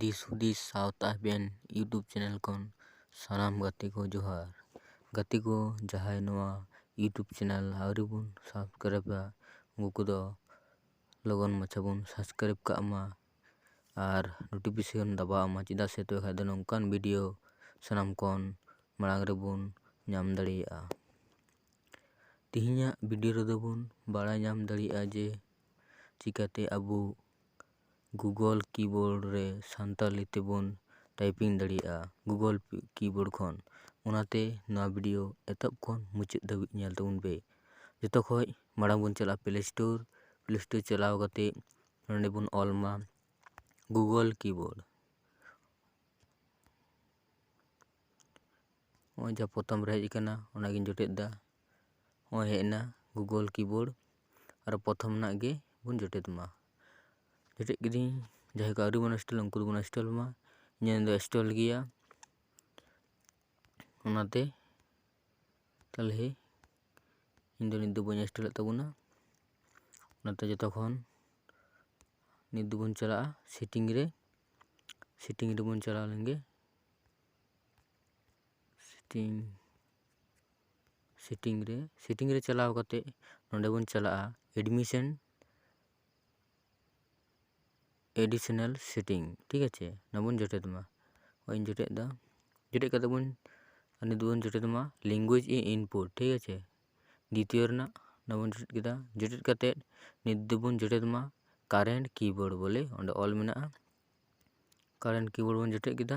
ᱫᱤᱥ ᱦᱩᱫᱤᱥ ᱥᱟᱶᱛᱟ ᱟᱵᱮᱱ ᱤᱭᱩᱴᱩᱵᱽ ᱪᱮᱱᱮᱞ ᱠᱷᱚᱱ ᱥᱟᱱᱟᱢ ᱜᱟᱛᱮ ᱠᱚ ᱡᱚᱦᱟᱨ ᱜᱟᱛᱮ ᱠᱚ ᱡᱟᱦᱟᱸᱭ ᱱᱚᱣᱟ ᱤᱭᱩᱴᱩᱵᱽ ᱪᱮᱱᱮᱞ ᱟᱹᱣᱨᱤ ᱵᱚᱱ ᱥᱟᱵᱥᱠᱨᱟᱭᱤᱵᱟ ᱩᱱᱠᱩ ᱠᱚᱫᱚ ᱞᱚᱜᱚᱱ ᱢᱟᱪᱷᱟ ᱵᱚᱱ ᱥᱟᱵᱥᱠᱨᱟᱭᱤᱵᱽ ᱠᱟᱜ ᱢᱟ ᱟᱨ ᱱᱳᱴᱤᱯᱷᱤᱠᱮᱥᱚᱱ ᱫᱟᱵᱟᱣ ᱟᱢᱟ ᱪᱮᱫᱟᱜ ᱥᱮ ᱛᱚᱵᱮ ᱠᱷᱟᱱ ᱫᱚ ᱱᱚᱝᱠᱟᱱ ᱵᱷᱤᱰᱤᱭᱳ ᱥᱟᱱᱟᱢ ᱠᱷᱚᱱ ᱢᱟᱲᱟᱝ ᱨᱮᱵᱚᱱ ᱧᱟᱢ ᱫᱟᱲᱮᱭᱟᱜᱼᱟ ᱛᱮᱦᱮᱧᱟᱜ ᱵᱷᱤᱰᱤᱭᱳ ᱨᱮᱫᱚ ᱵᱚᱱ ᱵᱟᱲᱟᱭ ᱧᱟᱢ ᱫᱟᱲᱮᱭᱟᱜᱼᱟ ᱡᱮ ᱪᱤᱠᱟᱹᱛᱮ ᱟᱵᱚ ᱜᱩᱜᱳᱞ ᱠᱤᱵᱳᱨᱰ ᱨᱮ ᱥᱟᱱᱛᱟᱲᱤ ᱛᱮᱵᱚᱱ ᱴᱟᱭᱯᱤᱝ ᱫᱟᱲᱮᱭᱟᱜᱼᱟ ᱜᱩᱜᱳᱞ ᱠᱤᱵᱳᱨᱰ ᱠᱷᱚᱱ ᱚᱱᱟᱛᱮ ᱱᱚᱣᱟ ᱵᱷᱤᱰᱤᱭᱳ ᱮᱛᱚᱦᱚᱵ ᱠᱷᱚᱱ ᱢᱩᱪᱟᱹᱫ ᱫᱷᱟᱹᱵᱤᱡ ᱧᱮᱞ ᱛᱟᱵᱚᱱ ᱯᱮ ᱡᱚᱛᱚ ᱠᱷᱚᱱ ᱢᱟᱲᱟᱝ ᱵᱚᱱ ᱪᱟᱞᱟᱜᱼᱟ ᱯᱞᱮ ᱥᱴᱳᱨ ᱯᱞᱮ ᱥᱴᱳᱨ ᱪᱟᱞᱟᱣ ᱠᱟᱛᱮᱫ ᱱᱚᱰᱮ ᱵᱚᱱ ᱚᱞ ᱢᱟ ᱜᱩᱜᱳᱞ ᱠᱤᱵᱳᱨᱰ ᱱᱚᱜᱼᱚᱭ ᱡᱟᱦᱟᱸ ᱯᱨᱚᱛᱷᱚᱢ ᱨᱮ ᱦᱮᱡ ᱠᱟᱱᱟ ᱚᱱᱟᱜᱤᱧ ᱡᱚᱴᱮᱫ ᱫᱟ ᱱᱚᱜᱼᱚᱭ ᱦᱮᱡ ᱮᱱᱟ ᱜᱩᱜᱳᱞ ᱠᱤᱵᱳᱨᱰ ᱟᱨ ᱯᱨᱚᱛᱷᱚᱢ ᱨᱮᱱᱟᱜ ᱜᱮᱵᱚᱱ ᱡᱚᱴᱮᱫ ᱢᱟ ᱡᱚᱴᱮᱫ ᱠᱤᱫᱟᱹᱧ ᱡᱟᱦᱟᱸᱭ ᱠᱚ ᱟᱹᱣᱨᱤ ᱵᱚᱱ ᱤᱱᱥᱴᱚᱞᱟ ᱩᱱᱠᱩ ᱫᱚᱵᱚᱱ ᱤᱱᱥᱴᱚᱞ ᱢᱟ ᱤᱧᱟᱹᱜ ᱫᱚ ᱤᱱᱥᱴᱚᱞ ᱜᱮᱭᱟ ᱚᱱᱟᱛᱮ ᱛᱟᱦᱚᱞᱮ ᱤᱧ ᱫᱚ ᱱᱤᱛ ᱫᱚ ᱵᱟᱹᱧ ᱮᱥᱴᱮ ᱞᱮᱫ ᱛᱟᱵᱚᱱᱟ ᱚᱱᱟᱛᱮ ᱡᱚᱛᱚ ᱠᱷᱚᱱ ᱱᱤᱛ ᱫᱚᱵᱚᱱ ᱪᱟᱞᱟᱜᱼᱟ ᱥᱤᱴᱤᱝ ᱨᱮ ᱥᱤᱴᱤᱝ ᱨᱮᱵᱚᱱ ᱪᱟᱞᱟᱣ ᱞᱮᱱᱜᱮ ᱥᱤᱴᱤᱝ ᱥᱤᱴᱤᱝ ᱨᱮ ᱥᱤᱴᱤᱝ ᱨᱮ ᱪᱟᱞᱟᱣ ᱠᱟᱛᱮᱜ ᱱᱚᱰᱮ ᱵᱚᱱ ᱪᱟᱞᱟᱜᱼᱟ ᱮᱰᱢᱤᱥᱮᱱ ᱮᱰᱤᱥᱚᱱᱟᱞ ᱥᱮᱴᱤᱝ ᱴᱷᱤᱠ ᱟᱪᱷᱮ ᱚᱱᱟ ᱵᱚᱱ ᱡᱚᱴᱮᱫ ᱢᱟ ᱱᱚᱜᱼᱚᱭ ᱡᱚᱴᱮᱫ ᱫᱟ ᱡᱚᱴᱮᱫ ᱠᱟᱛᱮᱜ ᱵᱚᱱ ᱱᱤᱛ ᱵᱚᱱ ᱡᱚᱴᱮᱫ ᱢᱟ ᱞᱮᱝᱜᱩᱭᱮᱡᱽ ᱤᱱ ᱤᱱᱯᱩᱴ ᱴᱷᱤᱠ ᱟᱪᱷᱮ ᱫᱤᱛᱤᱭᱚ ᱨᱮᱱᱟᱜ ᱚᱱᱟ ᱵᱚᱱ ᱡᱚᱴᱮᱫ ᱠᱮᱫᱟ ᱡᱚᱴᱮᱫ ᱠᱟᱛᱮᱜ ᱱᱤᱛ ᱫᱚᱵᱚᱱ ᱡᱚᱴᱮᱫ ᱢᱟ ᱠᱟᱨᱮᱱᱴ ᱠᱤᱵᱳᱨᱰ ᱵᱚᱞᱮ ᱚᱸᱰᱮ ᱚᱞ ᱢᱮᱱᱟᱜᱼᱟ ᱠᱟᱨᱮᱱᱴ ᱠᱤᱵᱳᱨᱰ ᱵᱚᱱ ᱡᱚᱴᱮᱫ ᱠᱮᱫᱟ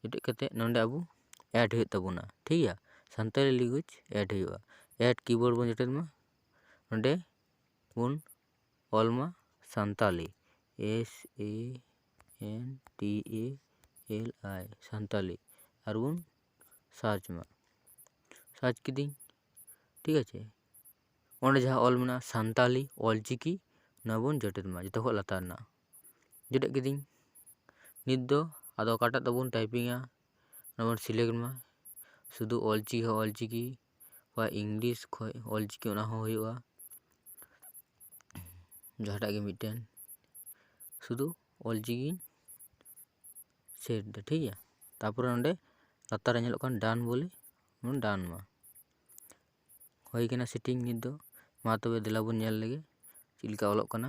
ᱡᱚᱴᱮᱫ ᱠᱟᱛᱮᱫ ᱱᱚᱰᱮ ᱟᱵᱚ ᱮᱰ ᱦᱩᱭᱩᱜ ᱛᱟᱵᱚᱱᱟ ᱴᱷᱤᱠ ᱜᱮᱭᱟ ᱥᱟᱱᱛᱟᱲᱤ ᱞᱮᱝᱜᱩᱭᱮᱡᱽ ᱮᱰ ᱦᱩᱭᱩᱜᱼᱟ ᱮᱰ ᱠᱤᱵᱳᱨᱰ ᱵᱚᱱ ᱡᱚᱴᱮᱫ ᱢᱟ ᱚᱸᱰᱮ ᱵᱚᱱ ᱚᱞ ᱢᱟ Santali S A N T A L I Santali ᱟᱨ ᱵᱚᱱ ᱥᱟᱨᱪ ᱢᱟ ᱥᱟᱨᱪ ᱠᱤᱫᱟᱹᱧ ᱴᱷᱤᱠ ᱟᱪᱷᱮ ᱚᱸᱰᱮ ᱡᱟᱦᱟᱸ ᱚᱞ ᱢᱮᱱᱟᱜᱼᱟ ᱥᱟᱱᱛᱟᱲᱤ ᱚᱞᱪᱤᱠᱤ ᱚᱱᱟ ᱵᱚᱱ ᱡᱚᱴᱮᱫ ᱢᱟ ᱡᱚᱛᱚ ᱠᱷᱚᱱ ᱞᱟᱛᱟᱨ ᱨᱮᱱᱟᱜ ᱡᱚᱴᱮᱫ ᱠᱤᱫᱟᱹᱧ ᱱᱤᱛ ᱫᱚ ᱟᱫᱚ ᱚᱠᱟᱴᱟᱜ ᱛᱮᱵᱚᱱ ᱴᱟᱭᱯᱤᱝᱟ ᱚᱱᱟ ᱵᱚᱱ ᱥᱤᱞᱮᱠᱴ ᱢᱟ ᱥᱩᱫᱷᱩ ᱚᱞ ᱪᱤᱠᱤ ᱦᱚᱸ ᱚᱞ ᱪᱤᱠᱤ ᱵᱟ ᱤᱝᱞᱤᱥ ᱠᱷᱚᱡ ᱚᱞ ᱪᱤᱠᱤ ᱚᱱᱟ ᱦᱚᱸ ᱦᱩᱭᱩᱜᱼᱟ ᱡᱟᱦᱟᱸᱴᱟᱜ ᱜᱮ ᱢᱤᱫᱴᱮᱱ ᱥᱩᱫᱷᱩ ᱚᱞ ᱪᱤᱠᱤᱧ ᱥᱮᱞᱮᱠᱴ ᱮᱫᱟ ᱴᱷᱤᱠ ᱜᱮᱭᱟ ᱛᱟᱨᱯᱚᱨᱮ ᱱᱚᱰᱮ ᱞᱟᱛᱟᱨ ᱨᱮ ᱧᱮᱞᱚᱜ ᱠᱟᱱ ᱰᱟᱱ ᱵᱚᱞᱮ ᱵᱚᱱ ᱰᱟᱱ ᱟᱜᱼᱟ ᱦᱩᱭ ᱠᱟᱱᱟ ᱥᱮᱴᱤᱝ ᱱᱤᱛ ᱫᱚ ᱢᱟ ᱛᱚᱵᱮ ᱫᱮᱞᱟ ᱵᱚᱱ ᱧᱮᱞ ᱞᱮᱜᱮ ᱪᱮᱫ ᱞᱮᱠᱟ ᱚᱞᱚᱜ ᱠᱟᱱᱟ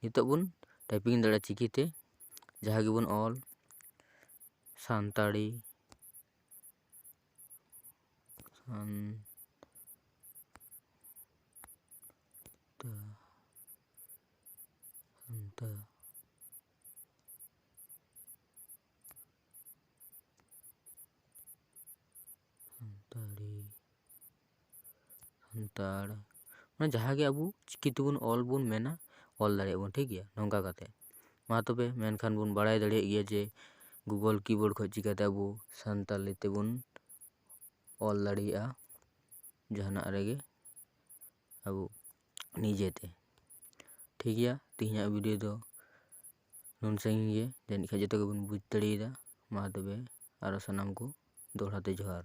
ᱱᱤᱛᱚᱜ ᱵᱚᱱ ᱴᱟᱭᱯᱤᱝ ᱫᱟᱲᱮᱭᱟᱜᱼᱟ ᱪᱤᱠᱤᱛᱮ ᱡᱟᱦᱟᱸ ᱜᱮᱵᱚᱱ ᱚᱞ ᱥᱟᱱᱛᱟᱲᱤ ᱥᱟᱱ ᱥᱟᱱᱛᱟᱲ ᱢᱟᱱᱮ ᱡᱟᱦᱟᱸᱜᱮ ᱟᱵᱚ ᱪᱤᱠᱤ ᱛᱮᱵᱚᱱ ᱚᱞ ᱵᱚᱱ ᱢᱮᱱᱟ ᱚᱞ ᱫᱟᱲᱮᱭᱟᱜ ᱵᱚᱱ ᱴᱷᱤᱠ ᱜᱮᱭᱟ ᱱᱚᱝᱠᱟ ᱠᱟᱛᱮᱜ ᱢᱟ ᱛᱚᱵᱮ ᱢᱮᱱᱠᱷᱟᱱ ᱵᱚᱱ ᱵᱟᱲᱟᱭ ᱫᱟᱲᱮᱭᱟᱜ ᱜᱮᱭᱟ ᱡᱮ ᱜᱩᱜᱳᱞ ᱠᱤᱵᱳᱨᱰ ᱠᱷᱚᱡ ᱪᱤᱠᱟᱛᱮ ᱟᱵᱚ ᱥᱟᱱᱛᱟᱲᱤ ᱛᱮᱵᱚᱱ ᱚᱞ ᱫᱟᱲᱮᱭᱟᱜᱼᱟ ᱡᱟᱦᱟᱱᱟᱜ ᱨᱮᱜᱮ ᱟᱵᱚ ᱱᱤᱡᱮᱛᱮ ᱴᱷᱤᱠ ᱜᱮᱭᱟ ᱛᱮᱦᱮᱧᱟᱜ ᱵᱷᱤᱰᱭᱳ ᱫᱚ ᱱᱩᱱ ᱥᱟᱺᱜᱤᱧ ᱜᱮ ᱡᱟᱹᱱᱤᱡ ᱠᱷᱟᱡ ᱡᱚᱛᱚ ᱜᱮᱵᱚᱱ ᱵᱩᱡᱽ ᱫᱟᱲᱮᱭᱟᱫᱟ ᱢᱟ ᱛᱚᱵᱮ ᱟᱨᱚ ᱥᱟᱱᱟᱢ ᱠᱚ ᱫᱚᱦᱲᱟᱛᱮ ᱡᱚᱦᱟᱨ